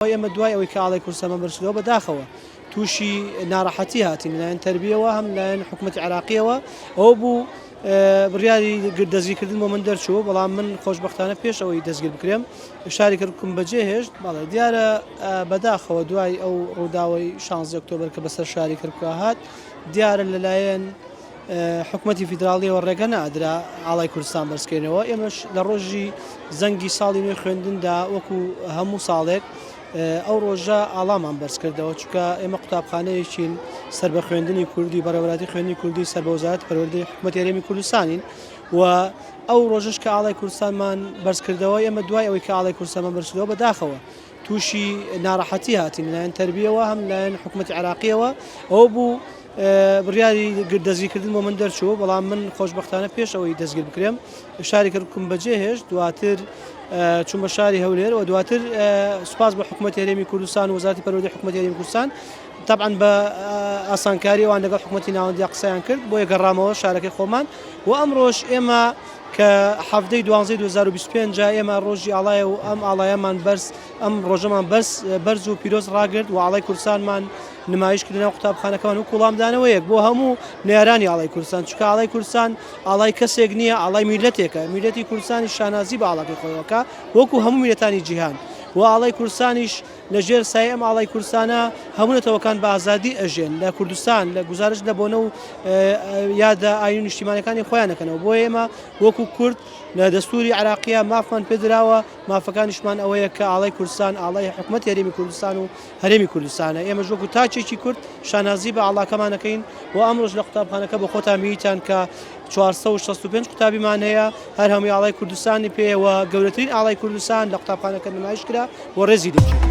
ئێمە دوای ئەوەی کە ئاڵای کوردستانمان بەرزکردەوە بەداخەوە تووشی ناڕەحەتی هاتین لەلایەن تەربیەوە هەم لایەن حکوومەتی عراقیەوە ئەوە بوو بڕیاری دەستگیرکردن بۆ من دەرچوو بەڵام من خۆشببختانە پێش ئەوەی دەستگیر بکرێم شاری کردکم بەجێ هێشت بەڵێ دیارە بەداخەوە دوای ئەو ڕووداوی شانزی ئۆکتۆبر کە بەسەر شاری کردکە هات دیارە لەلایەن حکومەتی فیدراڵیەوە ڕێگە نادرا ئاڵای کوردستان بەرزکەینەوە ئێمەش لە ڕۆژی زەنگی ساڵی نوێ خوێندندا وەکو هەموو ساڵێک ئەو ڕۆژە ئاڵامان بەرزکردەوە چکە ئێمە قوتابخانەیەکین سەر بە خوێندنی کوردی بەڕێوەراتی خوێندنی کوردی سەر بە وزارەت پەروەردەی حکومەت هەرێمی کوردستانین و ئەو ڕۆژش کە ئاڵای کوردستانمان بەرزکردەوە ئێمە دوای ئەوەی کە ئاڵای کوردستانمان بەرزکردەوە بەداخەوە تووشی ناڕەحەتی هاتین لەلایەن تەربییەوە هەم لەلایەن حکوومەتی عێراقییەوە ئەوە بوو بڕیاری دەستگیرکردن بۆ من دەرچوو بەڵام من خۆشببختانە پێش ئەوەی دەستگیر بکرێم شاری کردکم بەجێ هێشت دواتر چون بە شاری هەولێر و دواتر سوپاس بە حکوومەت هەرێمی کوردستان وزارتی پەرۆدی حکوومەت هەرێمی کوردستان تەبعەن بە ئاسانکاری ئەوان لەگەڵ حکومەتی ناوەندیان قسەیان کرد بۆیە گەڕامەوە شارەکەی خۆمان و ئەمڕۆش ئێمە کە حەڤدەی دوانزەی 2025 جا ئێمە ڕۆژی ئاڵایە و ئەم ئاڵایەمان بەرز ئەم ڕۆژەمان بەرز بەرز و پیرۆز ڕاگرت و ئاڵای کوردستانمان نمایش کردنە و قوتابخانەکەمان و کوڵامدانەوەیەک بۆ هەموو نێرانی ئاڵای کوردستان چکە ئاڵای کوردستان ئاڵای کەسێک نییە ئاڵای میلەتێکە میلەتی کوردستانی شانازی بە ئاڵاکەی خۆیەکە وەکو هەموو میلەتانی جیهان و ئاڵای کوردستانیش لە ژێر سایەی ئەم ئاڵای کورسانە هەموو نەتەوەکان بە ئازادی ئەژێن لە کوردستان لە گوزارش لە بۆنە و یادە ئاین و نیشتیمانەکانی خۆیان نەکەنەوە بۆ ئێمە وەکو کورد لە دەستوری عراقیە مافمان پێدراوە مافەکانیشمان ئەوەیە کە ئاڵای کوردستان ئاڵای حکوومەت هەرێمی کوردستان و هەرێمی کوردستانە ئێمە ژۆک و تاچێکی کورد شانازی بە ئاڵاکەمانەکەین و ئەمڕۆژ لە قوتابخانەکە بە خۆتان میتان کە چوار سەد و شەست و پێنج قوتابیمان هەیە، هەر هەمووی ئاڵای کوردستانی پێیە و گەورەترین ئاڵای کوردستان لە قوتابخانەکە نمایش کرا و ڕێزی لێگیرا.